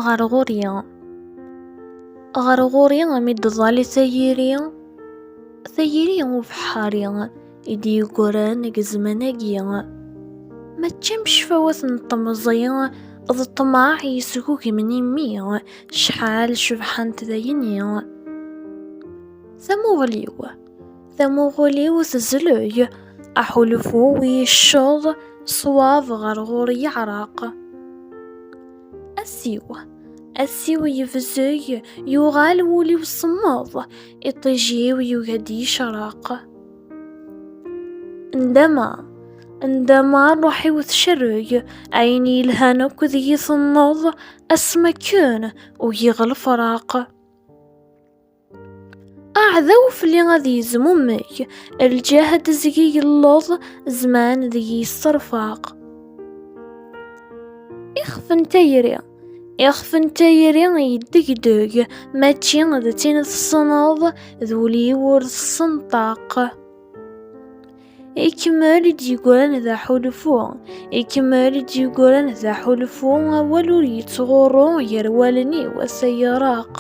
ɣer ɣur-i ɣer ɣur-i mi d-ẓẓali tayiri tayiri ubeḥḥari i d-yeggran deg zzman-agi mačči am ccfawat n temẓi d ṭṭmeɛ yesgugmen imi cḥal cebḥent dayni tamuɣli-w Tamuɣuli-w tezleg, aḥulfu-w yecceḍ, ṣwab ɣer ɣur yeɛreq. Asiw, asiw yebzeg, yuɣal wul-iw semmeḍ, iṭij-iw yugi-d yecreq. Ndama, ndama ṛṛuḥ-iw tcerreg, ayen yelhan akk deg-i tenneḍ, asmi akken ugiɣ lefraq. Aɛdaw fell-i ad yezmumeg, lǧehd zgi yelluẓ, zzman deg-i yesserfaq. Ixef n tayri Ixef n tayri yeddegdeg, mačči d tin tessneḍ, d ul-iw ur tessenṭaq. Ikemmel-d yegran d aḥulfu. Ikemmel-d yegran d aḥulfu, awal ur yettɣurru gar wallen-iw ass ay yeraq.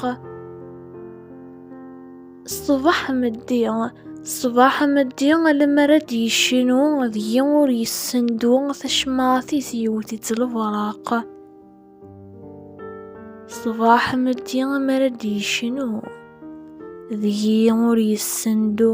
Ṣṣbeḥ meddi, ṣṣbeḥ meddi, lemmer ad d-yecnu deg-i ur yessendu tacemmaɛt-is yewwet-itt lebraq. Ṣṣbeḥ meddi, lemmer ad d-yecnu deg-i ur yessendu